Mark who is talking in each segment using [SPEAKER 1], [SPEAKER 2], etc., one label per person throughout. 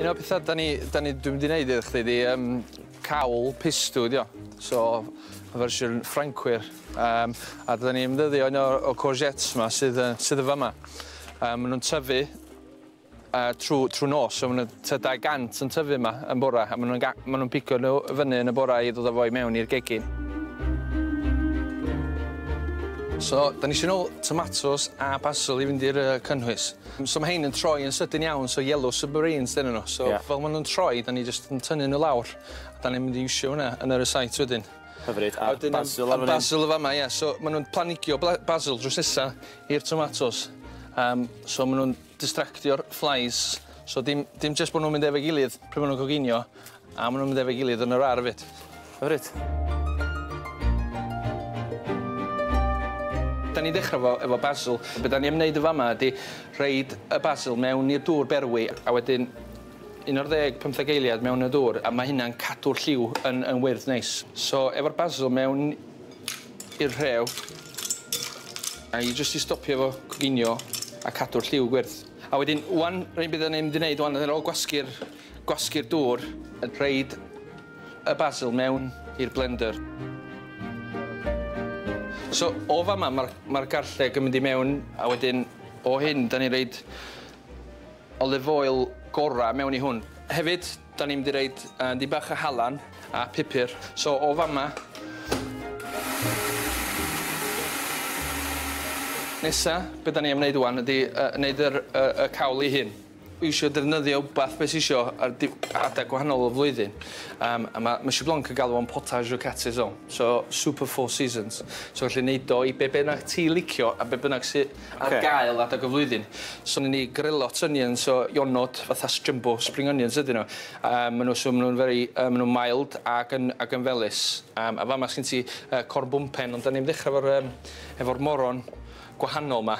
[SPEAKER 1] Un o'r petha da ni, da ni, dwi'n mynd i wneud iddo chdi di, um, cawl pistw di o. So, y fersiwn Ffrancwyr. Um, a da ni'n ymddyddio un o'r o courgettes yma sydd, sydd yn fama. Um, maen nhw'n tyfu uh, trwy, trwy nos, so maen nhw 200 yn tyfu yma yn bora, a maen nhw'n ma nhw pico nhw fyny yn y bora i ddod â fo i mewn i'r gegin. So, da ni eisiau nôl tomatoes a basil i fynd i'r uh, cynhwys. So ma' rhein yn troi yn sydyn iawn, so yellow submarines 'dyn nhw. So fel ma' nhw'n troi, 'dan ni jyst yn tynnu nhw lawr, a 'dan ni'n mynd i iwsio hwnna yn y rysáit wedyn. Hyfryd, a basil lawr fan 'yn? A basil yn fama, ie. So ma' nhw'n planigio basil drws nesa i'r tomatos, yym so ma' nhw'n distractio'r flies, so dim dim jyst bo' nhw'n mynd efo'i gilydd pryd ma' nhw'n coginio, A ma' nw'n mynd efo'i gilydd yn yr ar' efyd. Hyfryd. 'Dan ni'n dechra efo efo basil. Be' 'dan ni am neud yn fa' 'ma ydi rhoid y basil mewn i'r dŵr berwi a wedyn un ar ddeg pymtheg eiliad mewn y dŵr a ma' hynna'n cadw'r lliw yn yn wyrdd neis. So efo'r basil mewn i'r rhew a i jyst i stopio fo coginio a cadw'r lliw gwyrdd. A wedyn ŵan rei' be' 'dan ni mynd i neud ŵan ar ôl gwasgu'r Gwasgu'r dŵr. Rhoid y basil mewn i'r blender. So o fama ma'r ma'r garlleg yn mynd i mewn a wedyn o hyn 'dan ni'n roid olive oil gora mewn i hwn. Hefyd 'dan ni'n mynd i roid yy dipyn bach o halan a pupur. So o fama Nesa be' 'dan ni am neud ŵan ydi yy neud yr yy y cawl 'i hun. Dwi isio defnyddio wbath be' sy isio ar di- adeg gwahanol o'r flwyddyn yym a ma' Monsieur Blanc yn galw o'n potage aux quatre saisons so soup of four seasons so gallu neud o i be' bynnag ti licio a be' bynnag sy ar gael adeg y flwyddyn. So newn ni grillot onions o Ionod fatha s- jumbo spring onions ydyn nhw a ma' nw so ma' nw'n very yy ma' nw'n mild ag yn ag yn felys yym a fama sgin ti yy corn bwmpen ond 'dan ni'n mynd ddechra efo'r yym efo'r moron gwahanol 'ma.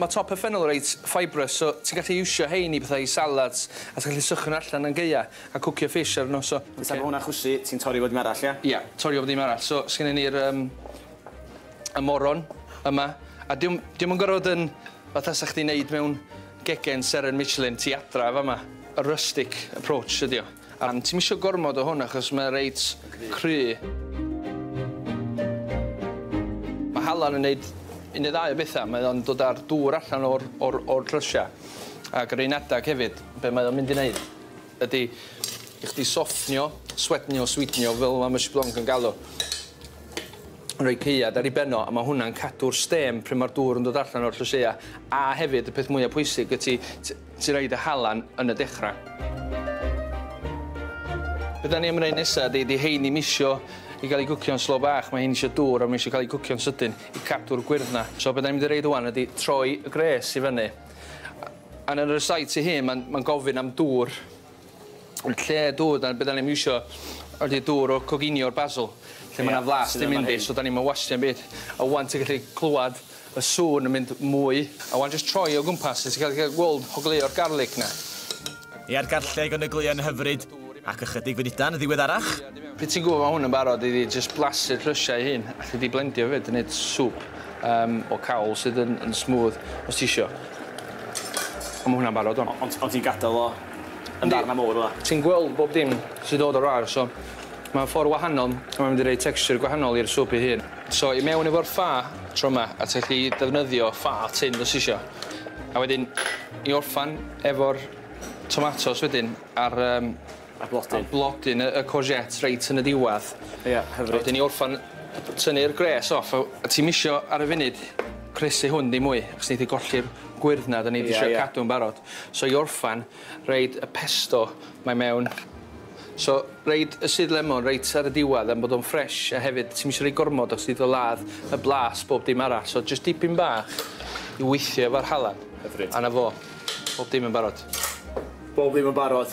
[SPEAKER 1] Mae top y ffennel reit fibrous, so ti'n gallu iwsio hein i bethau i salads, a ti'n gallu sychu nhw allan yn gaea, a cwcio fish ar nhw, so... Fysa fo hwnna'n chwysu, ti'n torri fo ddim arall, ia? Ia, torri fo ddim arall, so sgynnon ni'r yym y moron yma, a diom diom yn gorfod yn fatha sa chdi'n neud mewn gegin seren Michelin tu adra fama, y rustic approach ydi o. Ond ti'm isio gormod o hwn achos mae o reit cry. Mae halan yn neud un neu ddau o bethau, mae o'n dod â'r dŵr allan o'r o'r o'r llysiau ac yr un adeg hefyd be' mae o'n mynd i neud ydi i chdi soffnio, swednio, sweetenio fel ma' Mysh Blanc yn galw roi caead ar ei ben o a ma' hwnna'n cadw'r stêm pryd ma'r dŵr yn dod allan o'r llysieuau a hefyd y peth mwya pwysig ydi t- Ti roid y halan yn y dechra. Be da ni am wneud nesa ydi, di hein ddim isio i gael ei gwcio'n slo bach, mae hein isio dŵr a mae isio cael ei gwcio'n sydyn i cadw'r gwyrdd na. So be da ni'n mynd i reid wan ydi troi y gwres i fyny. A yn yr side tu hun, mae'n gofyn am dŵr. Yn lle dŵr, dyna be' 'dan ni'm isio ydi dŵr o'r coginio o'r basil lle ma' 'na flas 'di mynd i so 'dan ni'm yn wastio 'im byd. A ŵan ti'n gallu clwad y sŵn yn mynd mwy a ŵan jyst troi o gwmpas a ti gallu ca'l gweld hogleuo'r garlic 'na. Ia'r garlleg yn ogleuo'n hyfryd, ac ychydig funudau'n ddiweddarach, Pryd ti'n gwbod ma' hwn yn barod i jyst blasu'r llysiau 'u hun, alli di blendio hefyd a neud swp yym o cawl sydd yn yn smooth os ti isio. A ma' hwnna'n barod ŵan. O- ond ond ti'n gadel o yn ddarna mowr fela. Ti'n gweld bob dim sy'n dod o'r aer so mae o'n ffordd wahanol a mae'n mynd i roi texture gwahanol i'r swp ei hun. So i mewn efo'r ffa tro ma a ti'n gallu defnyddio ffa tun os isio a wedyn i orffan efo'r tomatos wedyn a'r yym a'r blodyn a'r blodyn y y courgette reit yn y diwadd. Ia hyfryd. A wedyn i orffan tynnu'r gwres off a a ti'm isio ar y funud croesi hwn dim mwy achos neith e golli'r gwyrdd na 'dan ni 'di trio cadw'n barod. So i orffan, roid y pesto 'ma i mewn. So, roid y sudd lemon reit ar y diwedd am bod o'n ffresh a hefyd ti'm isio rhoi gormod achos neith o ladd y blas bob dim arall so jyst dipyn bach i weithio efo'r halan. Hyfryd. A 'na fo. Bob dim yn barod. Bob dim yn barod.